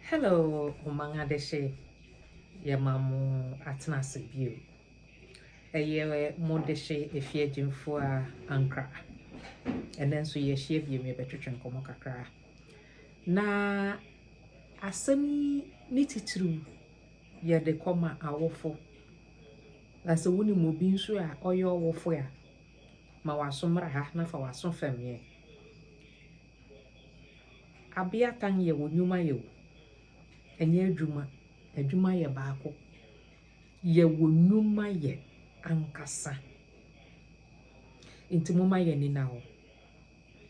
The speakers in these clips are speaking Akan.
Hello Oman Adehye, yɛma mo atena ase bio. Ɛyɛ mo dehye efie agyinfoɔ a Ankra. Ɛnɛ nso yɛahyia bio yɛbɛtwetwe nkɔmmɔ kakra. Na asɛm yi ne titiriw yɛde kɔma awofo. Na sɛ wonim obi nso a ɔyɛ ɔwofo a, ma w'aso mmra ha na fa w'aso fam yɛn. Abeatan yɛ wo nwuma yɛ o, ɛnyɛ adwuma. Adwuma yɛ baako. Yɛ wo nwuma yɛ ankasa. Nti moma yɛn ani nna hɔ.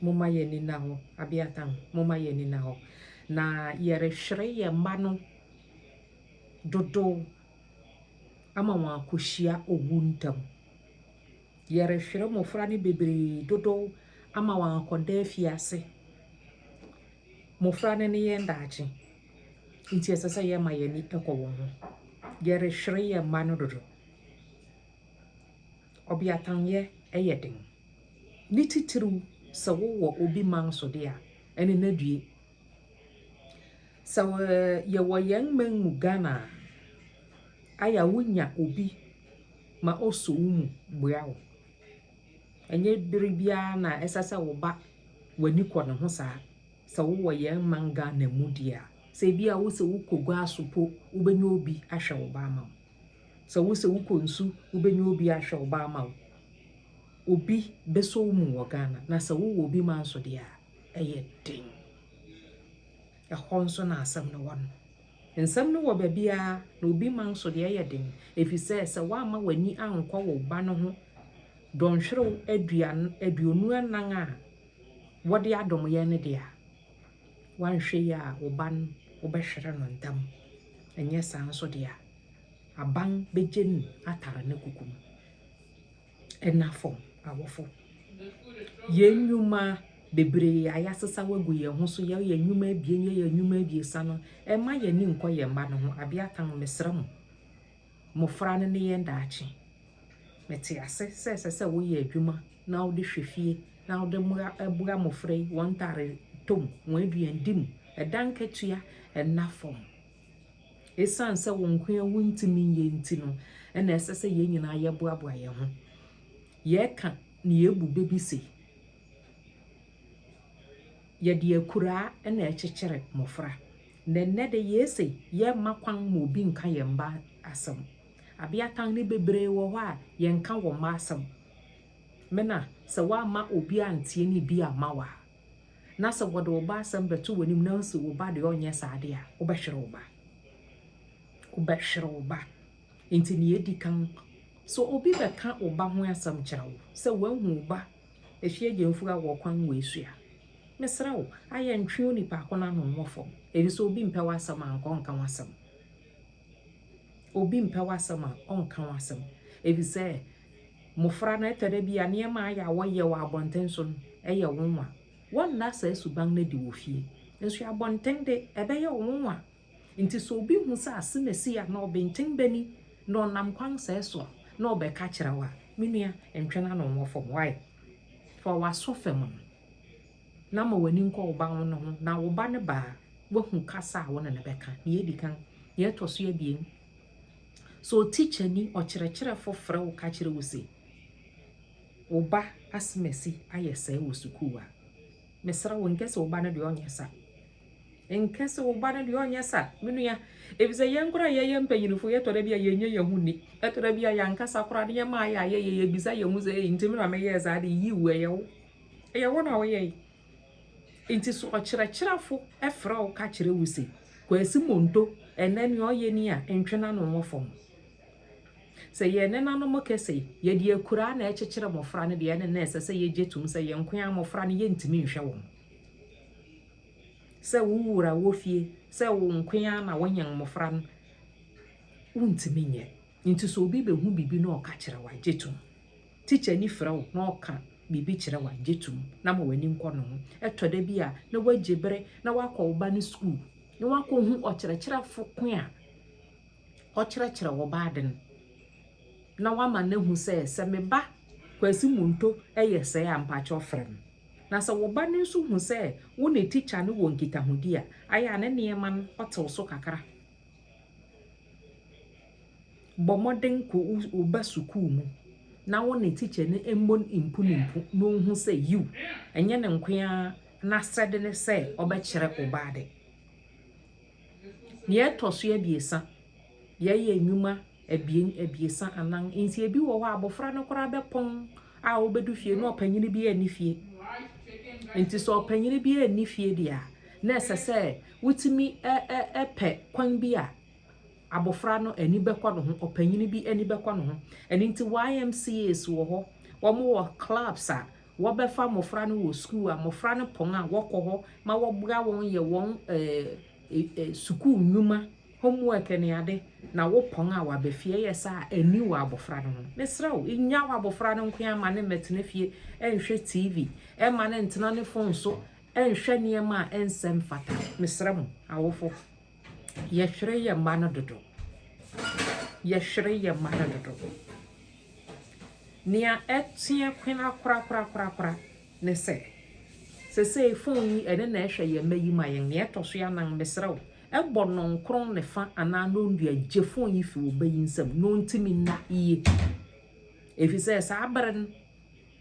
Moma yɛn ani nna hɔ. Abeatan, moma yɛn ani nna hɔ. Na yɛrehwere yɛn mma no dodow ama wɔakɔhyia owu ntam. Yɛrehwere mmofra no bebree dodow ama wɔakɔda afiase. Mmofra no ne yɛn daakye, nti ɛsɛ sɛ yɛma yɛn ani kɔ wɔn ho. Yɛrehwere yɛn mma no dodo. Ɔbeatanyɛ yɛ den, ne titiriw sɛ wowɔ obi man so de a, ɛne no adue. Sɛ yɛwɔ yɛn man mu Ghana a, ayɛ a wonya obi ma ɔsɔ wo mu boa wo. Ɛnyɛ bere biara na ɛsɛ sɛ wo ba w'ani kɔ ne ho saa. Sɛ wowɔ yɛn man Ghana mu deɛ a, sɛ ebi a wosɛ wokɔ gua so po, wobɛnya obi ahwɛ wo ba ama wo. Sɛ wosɛ wokɔ nsu, wobɛnya obi ahwɛ wo ba ama wo. Obi bɛsɔ wo mu wɔ Ghana, na sɛ wowɔ obi ma nso deɛ a, yɛ den. Ɛhɔ nso na asɛm no wɔ no. Nsɛm no wɔ baabiara, na obi ma nso deɛ ɛyɛ den, ɛfiri sɛ sɛ woamma w'ani ankɔ wo ba no ho dɔnhwerew aduan aduonu anan a wɔde adom yɛn no deɛ a, woanhwɛ yie a wo ba no wobɛhwere no ntɛm. Ɛnyɛ saa nso deɛ a, aban bɛgye no atare ne kuku mu. Anafo awofo, yɛn nnwuma bebree a yɛasesaw agu yɛn ho so, yɛyɛ nnwuma abien, yɛyɛ nnwuma abiɛsa no, mma yɛn ani nkɔ yɛn mma no ho. Abeatan, mesrɛ mo, mmofra no ne yɛn daakye. Mete ase sɛ ɛsɛ sɛ woyɛ adwuma na wode hwɛ fie na wode boa mmofra yi wɔn ntare tɔ mu, wɔn aduandi mu, ɛdan katua nna fam. Esiane sɛ wo nko ara wuntumi nyɛ nti no na ɛsɛ sɛ yɛn nyinaa yɛboaboa yɛn ho. Yɛka nea ebu bɛ bi se, Yɛde akuraa na ɛkyekyere mmofra. Na ɛnnɛ de, yɛse yɛmma kwan ma obi nka yɛn mma asɛm. Abeatan no bebree wɔ hɔ a, yɛnka wɔn mma asɛm. Mena, sɛ woamma obi anteɛ ne bi amma wo a, na sɛ wɔde wo ba asɛm bɛto w'anim na wosi wo ba deɛ ɔnyɛ saa adeɛ a, wobɛhwere wo ba. Wobɛhwere wo ba. Nti nea edi kan, sɛ obi bɛka wo ba ho asɛm kyerɛ wo, sɛ woahu wo ba efi agyamfiri a wɔkwan wɔ esu a, mesrɛ wo, ayɛ ntwe onipa ko no ano mmɔ fam, efisɛ obi mpɛ w'asɛm a, anka ɔnka w'asɛm. Obi mpɛ w'asɛm a, ɔnka wo asɛm. Efisɛ mmofra no, ɛtɔ da bi a nneɛma a ayɛ a wɔyɛ wɔ abɔnten so no, ɛyɛ wo nwa. Wɔnna saa suban no adi wɔ fie. Nanso abɔnten de, ɛbɛyɛ wo nwa. Enti sɛ obi hu sɛ asɛm a esii anaa ɔbenten bɛ ni na ɔnam kwan sɛɛ so na ɔbɛka akyerɛ wo a, me nua, ntwe n'ano nwɔ fam. Why? Fa w'aso fam no. na ma w'ani nkɔ wo ba no ho, na wo ba no ba a, woahu kasa a wo ne no bɛka. Nea edi kan, nea ɛtɔ so abien, sɛ otikyani, ɔkyerɛkyerɛfo frɛ wo ka kyerɛ wo se, Wo ba asemasi ayɛ sɛɛ wɔ sukuu a, mesrɛ wo nkɛ sɛ wo ba no deɛ ɔnyɛ sa. Nkɛ sɛ wo ba no deɛ ɔnyɛ sa, me nua, efisɛ yɛn koraa yɛyɛ mpanyinfo yɛtɔ da bi a yɛnyɛ yɛn ho nni. Ɛtɔ da bi a yɛankasa koraa ne yɛma ayɛ a yɛyɛ yɛbisa yɛn ho sɛ, Ei, ntimi na meyɛɛ saa de, yiw, ɛyɛ wo. Ɛyɛ wo na woyɛe. Enti so ɔkyerɛkyerɛfo frɛ wo ka kyerɛ wo se, Kwasi Monto, ɛnnɛ nea ɔyɛ ni a, ntwe n'ano wɔ fam? Sɛ yɛn nenanom ka se, yɛde akuraa na ɛrekyekyere mmofra no deɛ, ɛnne na ɛsɛ sɛ yegye tom sɛ yɛn nko ara mmofra no yentumi nhwɛ wɔn. Sɛ wo wura wɔ fie sɛ wo nko ara na wonyan mmofra no, wuntumi nyɛ. Ntsi sɛ obi behu biribi na ɔka kyerɛ wo a, gye to mu. Tikyani frɛ wo na ɔka biribi kyerɛ wo a, gye to mu na ma w'ani nkɔ no ho. Ɛtɔ da bi a, na woegye ber na woakɔ wo ba no skuul na woakohu ɔkyerɛkyerɛfo ko a ɔkyerɛkyerɛ wo ba adze no, na woama no ehu sɛ, sɛ me ba Kwasi Monto yɛ sɛɛ a, mpakyɛw frɛ me. Na sɛ wo ba no so hu sɛ wo na tikya no wɔ nkitahodzi a, ayɛ a ne nneɛma no ɔtsew so kakra. Bɔ mmɔden kɔ wo ba sukuu mu na wo ne tikyani mmɔ mpunimpu na ɔnhu sɛ yiw, ɛnyɛ ne nko ara n'asɛde ne sɛ ɔbɛkyerɛ wo ba ade. Nea ɛtɔ so abiɛsa, yɛyɛ nnwuma abien, abiɛsa, anan, nti ebi wɔ hɔ a abɔfra no koraa bɛpɔn a obedu fie na ɔpanyin biara nni fie. Nti sɛ ɔpanyin biara nni fie deɛ a, na ɛsɛ sɛ wotumi pɛ kwan bi a abɔfra no ani bɛkɔ ne ho, ɔpanyin bi ani bɛkɔ ne ho. Ɛno nti YMCAs wɔ hɔ, wɔwɔ clubs a wɔbɛfa mmɔfra no wɔ sukuu a mmɔfra no pɔn a wɔkɔ hɔ ma wɔboa wɔn yɛ wɔn sukuu nnwuma. Homework ne ade na wopɔn a waba fie ɛyɛ saa a ɛnni wo abɔfra no ho. Mesrɛ wo, nnya w'abɔfra no nkoaa mma no mmɛtena fie nnhwɛ TV, mma no ntena ne fon so nnhwɛ nneɛma a ɛnsɛ mfata. Mesrɛ mo awofo, yɛhwere yɛn mma no dodo. Yɛhwere yɛn mma no dodo. Nea ɛteɛ kwena korakorakorakora ne sɛ, sesei fon yi ɛno na ɛhwɛ yɛn mma yi ma yɛn. Nea ɛtɔ so anan, mesrɛ wo, Bɔ nonkron ne fa anaa nondua gye fon yi fi wo ba yi nsam na ontumi nna yiye. Efisɛ saa bere no,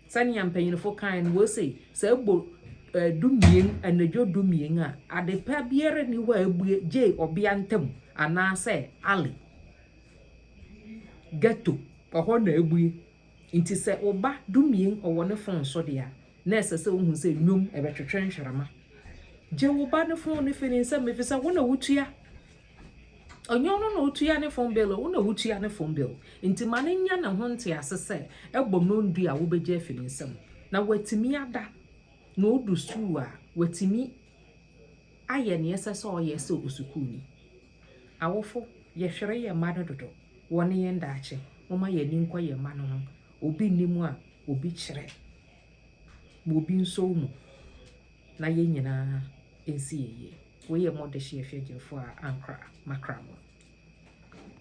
sɛnea mpanyimfo kae no, wose sɛ ɛbɔ eh, dumien, anadwo dumien a, ade pa biara nni hɔ a ebue gye ɔbea ntam anaasɛ alley, ghetto, ɛhɔ na ebue. Ntsi sɛ wo ba dumien ɔwɔ ne fon so de a, nna ɛsɛ sɛ ohu sɛ nnwom bɛtwetwe nhwerema. Gye wo ba no fon no fi ne nsamu efisɛ wo na wutua. Ɔnnyɛ ɔno na otua ne fon bill, wo na wutua ne fon bill. Ntsi ma no nya no ho ntsease sɛ ɛbɔ no ndu a wobegye afi ne nsamu. Na watumi ada na odu skuul a, watumi ayɛ nea ɛsɛ sɛ ɔyɛ sɛ osukuuni. Awofo, yɛhwere yɛn mma no dodo. Wɔne yɛn daakye. Momma yɛn ani nkɔ yɛn mma no ho. Obi nni mu a obi kyerɛ, ma obi nsɔw mu, na yɛn nyinaa nsi yiye. Wei yɛ Mordecai Afiagyinfo a ankra makra mo.